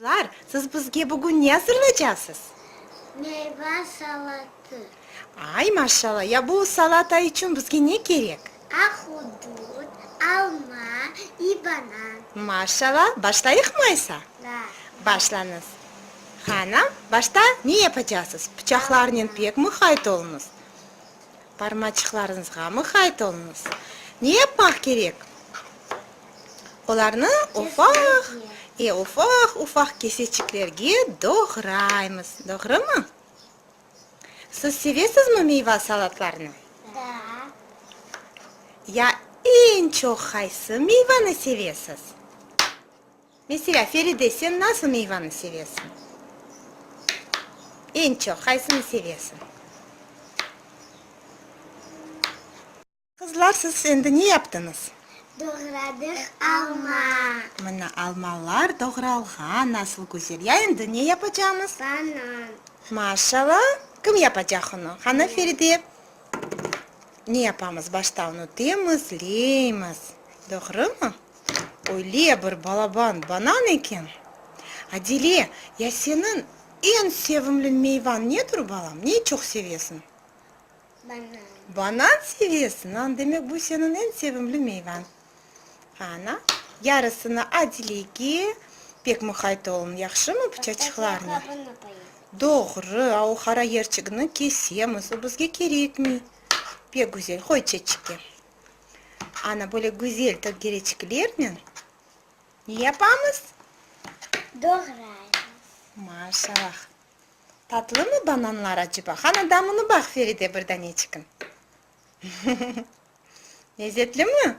Çocuklar, siz bizge bugün ne azırlaycaqsız? Meyva salatı. Ay, maşallah! Ya bu salata içün bizge ne kerek? Ahudut, alma i banan. Maşallah! Başlayıqmı aysa? Da. Başlañız. Qana, başta ne yapacaqsız? Pıçaqlarnen pek muhayt oluñız. Barmaçıqlarıñızğa mıqayt oluñız. Ne yapmaq kerek? Olarnı ufaq, e, ufaq-ufaq keseçiklerge doğraymız, doğrumı? Siz sevesizmi meyva salatlarını? Da. Ya eñ çoq qaysı meyvanı sevesiz? Meselâ, Feride, sen nasıl meyvanı sevesiñ? Eñ çoq qaysını sevesiñ? Qızlar, siz endi ne yaptıñız? Doğradıq alma. Mına, almalar doğralğan, nasıl güzel! Ya endi ne yapacamız? Banan. Maşalla! Kim yapacaq onı? Qana, Feride, ne yapamız? Başta onı demiz, leymiz. Doğrumı? Öyle bir balaban banan eken! Adile, ya seniñ eñ sevimli meyvañ nedir, balam? Ne çoq sevesiñ? Banan. Banan sevesiñ? Aa, demek, bu seniñ eñ sevimli meyvañ. Ana, yarısını Adilege, pek muqayt oluñ, yahşımı, pıçaçıqlarnı? Başta qabını qoyıñ. Doğru, a o qara yerçigini kesemiz, o bizge kerekmey. Pek güzel, qoy çeçikke. Ana, böyle güzel tökereçiklernen ne yapamız? Doğraymız. Maşallah. Tatlımı bananlar aceba? Qana, damını baq, Feride, bir daneçikin. Lezzetlimi?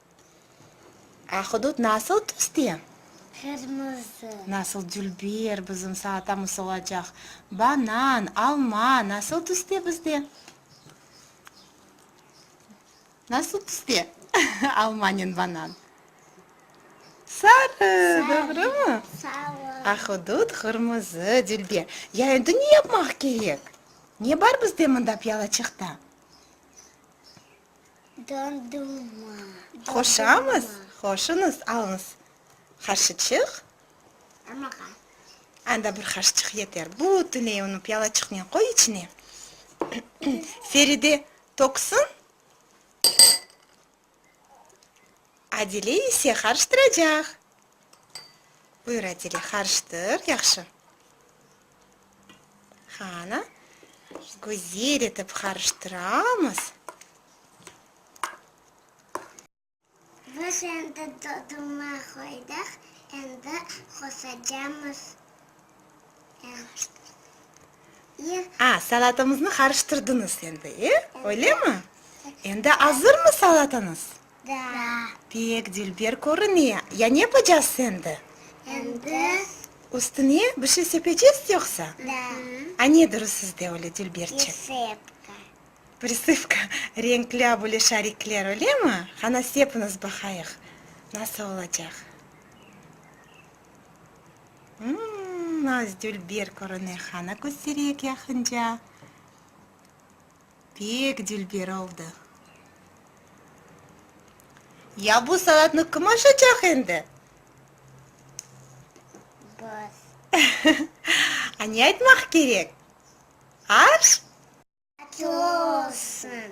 Ahudut nasıl tüste? Qırmızı. Nasıl dülber bizim salatamız olacaq? Banan, alma nasıl tüste bizde? Nasıl tüste almanen banan? Sarı, doğrumı? Sarı. Ahudut qırmızı, dülber. Ya endi ne yapmaq kerek? Ne bar bizde mında piyalaçıqta? Dondurma. Qoşamız. Qoşunız, alıñız. Qaşıçıq. Amaqa. Anda bir qaşıçıq yeter. Bütünley onı piyalaçıqnen qoy içine. Feride töksün. Adile ise qarıştıracaq. Buyur, Adile, qarıştır yahşı. Qanı güzel etip qarıştıramız. Biz endi doduma qoydıq, endi qosacamız. A, salatamıznı qarıştırdıñız endi, e, öylemi? Endi azırmı salatañız? Da. Pek dilber körüne. Ya ne yapacağız endi? Endi? Üstüne bir şey sepecez yoqsa? Da. A nedir o sizde öyle dilberçe? Prisıpka. Prisıpka, renkla böyle şarikler, öyle mi? Qana sepiñiz baqayıq, nasıl olacaq? Mmm, az dilber körüne, qana köstereyik yaqınca. Pek dülber oldı. Ya bu saatnı kim aşacaq endi? Biz. A ne aytmaq kerek? Arş? Açlı olsun.